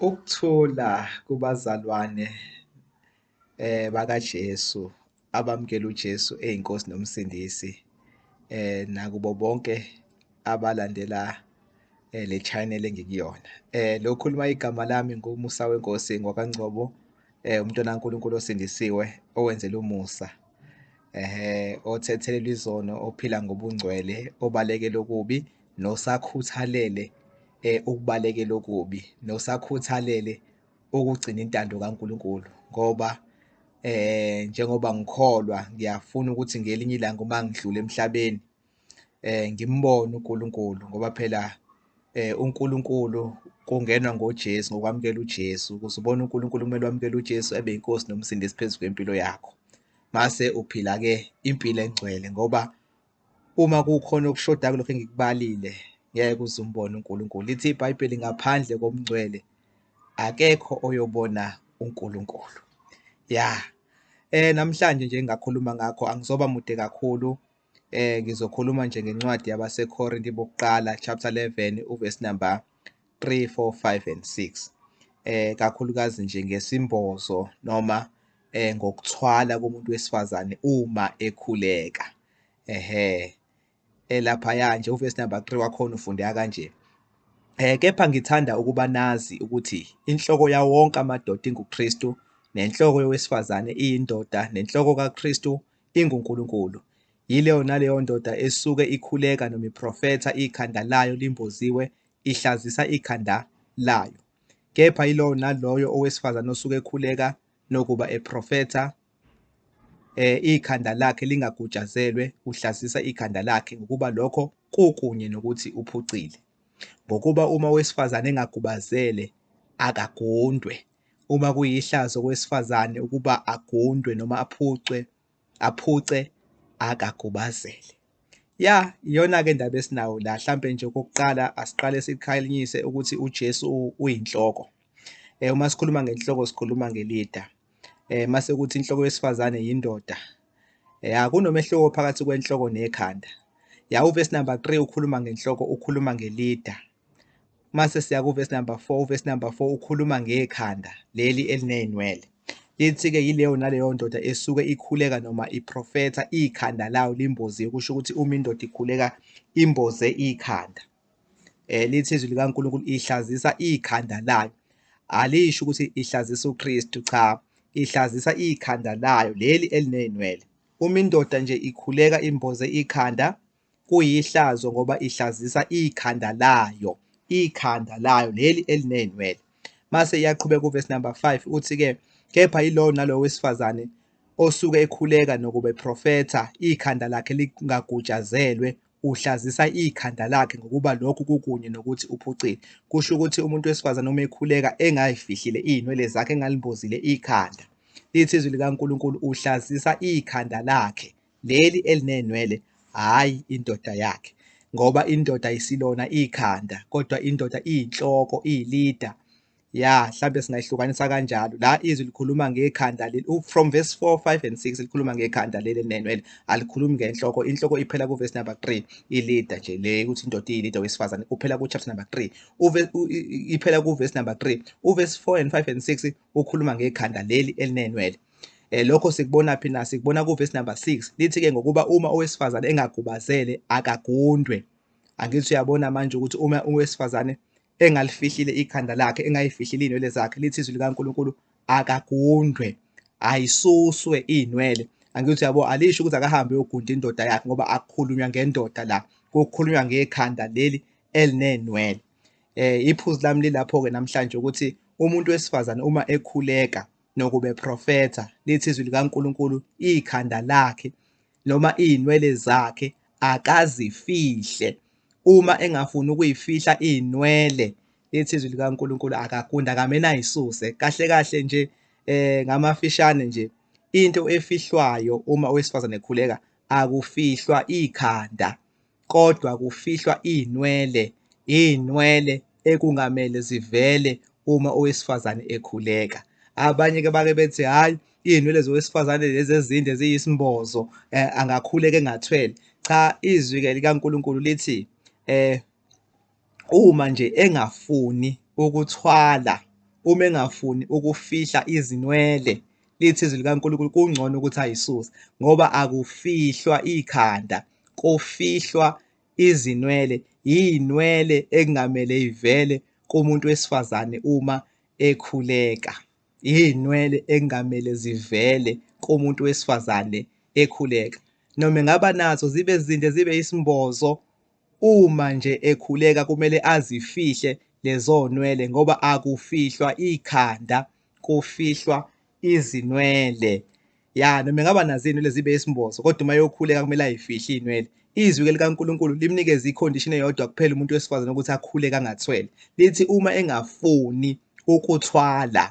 Ukuthula kubazalwane eh bakaJesu abamkela uJesu eyiNkosi noMsindisi eh nakubo bonke abalandela eh, le channel engikuyona eh lokhuluma igama lami ngumusa wenkosi ngwakangcobo eh umntwana kaNkuluNkulu osindisiwe owenzela umusa eh othethelelwa izono ophila ngobungcwele obalekela okubi nosakhuthalele eh, ukubalekela okubi nosakhuthalele ukugcina intando kaNkulunkulu ngoba eh njengoba ngikholwa ngiyafuna ukuthi ngelinye ilanga uma ngidlule emhlabeni eh ngimbone uNkulunkulu ngoba phela eh uNkulunkulu kungenwa ngoJesu ngokwamukela uJesu ukuze ubone uNkulunkulu kumele wamukele uJesu ebe inkosi nomsindisi phezu kwempilo yakho mase uphila ke impilo engcwele ngoba Uma kukhona okushoda kulokho engikubalile ngeke uze umbone uNkulunkulu. Lithi iBhayibheli ngaphandle komngcwele akekho oyobona uNkulunkulu. Ya. Eh namhlanje nje ngakhuluma ngakho angizoba mude kakhulu. Eh ngizokhuluma nje ngencwadi yabaseKhorinte bokuqala chapter 11 uverse number 3, 4, 5 and 6 eh kakhulukazi nje ngesimbozo noma eh ngokuthwala komuntu wesifazane uma ekhuleka ehe elaphaya nje uverse number 3 wakhona ufundeka kanje eh kepha ngithanda ukuba nazi ukuthi inhloko yawo wonke amadoda inguKristu nenhloko yowesifazane iyindoda nenhloko kaKristu inguNkulunkulu yileyo naleyo ndoda esuke ikhuleka noma iprofetha ikhanda layo limboziwe ihlazisa ikhanda layo. Kepha yilowo naloyo owesifazane osuke ekhuleka nokuba eprofetha eh ikhanda lakhe lingagutshazelwe uhlazisa ikhanda lakhe ngokuba lokho kukunye nokuthi uphucile ngokuba uma owesifazane engagubazele akagundwe uma kuyihlazo kowesifazane ukuba agundwe noma aphucwe aphuce akagubazele ya iyona ke ndaba esinawo la mhlambe nje okokuqala asiqale sikhalinyise ukuthi uJesu uyinhloko eh uma sikhuluma ngenhloko sikhuluma ngelida eh mase kuthi inhloko yesifazane yindoda ya kunomehluko phakathi kwenhloko nekhanda ya uvesi number 3 ukhuluma ngenhloko ukhuluma ngelida Mase siya kuvesi number 4, uvesi number 4 ukhuluma ngekhanda leli elinezinwele. Lithi ke yileyo naleyo ndoda esuke ikhuleka noma iprofetha ikhanda layo limbozi kusho ukuthi uma indoda ikhuleka imboze ikhanda. Eh lithi izwi likaNkulunkulu ihlazisa ikhanda layo. Alisho ukuthi ihlazisa uKristu cha, ihlazisa ikhanda layo leli elinezinwele. Uma indoda nje ikhuleka imboze ikhanda kuyihlazo ngoba ihlazisa ikhanda layo ikhanda layo leli eliney'nwele mase iyaqhubeka uvesi number 5 uthi-ke kepha yilowo nalowo wesifazane osuke ekhuleka nokuba eprofetha ikhanda lakhe lingagutshazelwe uhlazisa ikhanda lakhe ngokuba lokhu kukunye nokuthi uphucile kusho ukuthi umuntu wesifazane uma ekhuleka engayifihlile iy'nwele zakhe engalimbozile ikhanda lithi izwi likaNkulunkulu uhlazisa ikhanda lakhe leli elinenwele hhayi indoda yakhe ngoba indoda isilona ikhanda kodwa indoda iyinhloko iyilida ya mhlambe singayihlukanisa kanjalo la izwi likhuluma ngekhanda leli from verse 4 5 and 6 likhuluma ngekhanda leli elinenwele alikhulumi ngenhloko inhloko iphela kuverse number 3 ilida nje le ukuthi indoda iyilida wesifazane kuphela kuchapter number 3 uve iphela kuverse number 3 uverse 4 and 5 and 6 ukhuluma ngekhanda leli elinenwele Eh lokho sikubona phi na sikubona ku verse number 6 lithi ke ngokuba uma owesifazane engagubazele akagundwe angithi uyabona manje ukuthi uma owesifazane engalifihlile ikhanda lakhe engayifihlile inwele zakhe lithi izwi likaNkuluNkulu akagundwe ayisuswe inwele angithi yabo alisho ukuthi akahambe uyogunda indoda yakhe ngoba akukhulunywa ngendoda la kukhulunywa ngekhanda leli elinenwele eh iphuzu lami lilapho ke namhlanje ukuthi umuntu wesifazane uma ekhuleka nokube profetha lithi izwi likaNkulunkulu ikhanda lakhe noma izinwele zakhe akazifihle uma engafuni ukuyifihla izinwele lithi izwi likaNkulunkulu akakunde akamena ayisuse kahle kahle nje eh ngamafishane nje into efihlwayo uma owesifazane ekhuleka akufihlwa ikhanda kodwa kufihlwa izinwele, izinwele ekungamele zivele uma owesifazane ekhuleka. Abanye-ke bake bethi hhayi iy'nwele zowesifazane lezi ezinde ziyisimbozo um angakhuleka engathwele. Cha izwi-ke likaNkulunkulu lithi um Uma nje engafuni ukuthwala, uma engafuni ukufihla izinwele, lithi izwi likaNkulunkulu kungcono ukuthi ayisuse ngoba akufihlwa ikhanda, kufihlwa izinwele. Iy'nwele ekungamele ivele kumuntu wesifazane uma ekhuleka. Iy'nwele ekungamele zivele kumuntu wesifazane ekhuleka. Noma engaba nazo zibe zinde zibe isimbozo Uma nje ekhuleka kumele azifihle lezonwele ngoba akufihlwa ikhanda kufihlwa izinwele. Ya noma engaba nazo izinwele zibe isimbozo kodwa uma yokhuleka kumele ayifihle izinwele. Izwi-ke likaNkulunkulu limnikeza ikhondishini eyodwa kuphela umuntu wesifazane ukuthi akhuleke angathwele. Lithi uma engafuni ukuthwala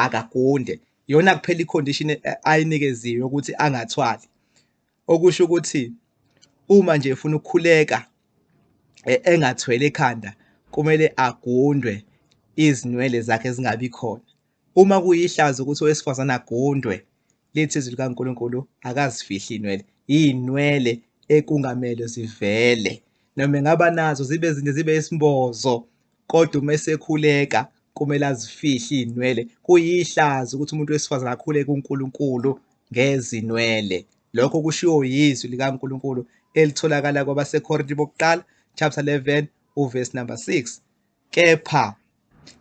akagunde. Iyona kuphela ikhondishini ayinikeziwe ukuthi angathwali. Okusho ukuthi uma nje efuna ukukhuleka e, engathwele ekhanda kumele agundwe izinwele zakhe zingabi khona. Uma kuyihlazo ukuthi owesifazane agundwe lithi izwi likaNkulunkulu akazifihli inwele. Iyinwele ekungamele zivele. Noma engaba nazo zibe zinde zibe isimbozo kodwa uma esekhuleka kumele azifihle izinwele kuyihlazo ukuthi umuntu wesifazane akhule kuNkulunkulu ngezinwele lokho kushiwo yizwi likaNkulunkulu elitholakala kwabaseKorinte bokuqala chapter 11 uverse number 6 kepha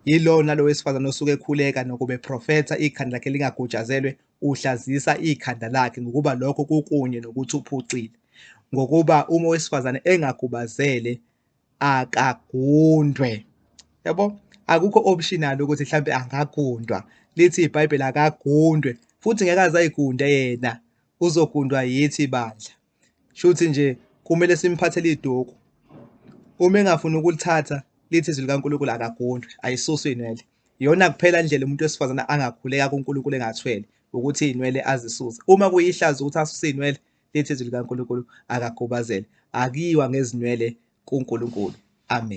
yilona lo wesifazane osuke ekhuleka nokuba eprofetha ikhanda lakhe lingagutshazelwe uhlazisa ikhanda lakhe ngokuba lokho kukunye nokuthi uphucile ngokuba uma owesifazane engagubazele akagundwe yabo akukho optional ukuthi mhlambe angagundwa lithi iBhayibheli akagundwe futhi ngeke azayigunde yena uzogundwa yithi bandla shuthi nje kumele simphathele iduku uma engafuni ukulithatha lithi izwi likaNkulunkulu akagundwe ayisuswe inwele iyona kuphela indlela umuntu wesifazane angakhuleka kuNkulunkulu engathwele ukuthi inwele azisuse uma kuyihlazo ukuthi asuse inwele lithi izwi likaNkulunkulu akakhubazele, akuyiwa ngezinwele kuNkulunkulu. Amen.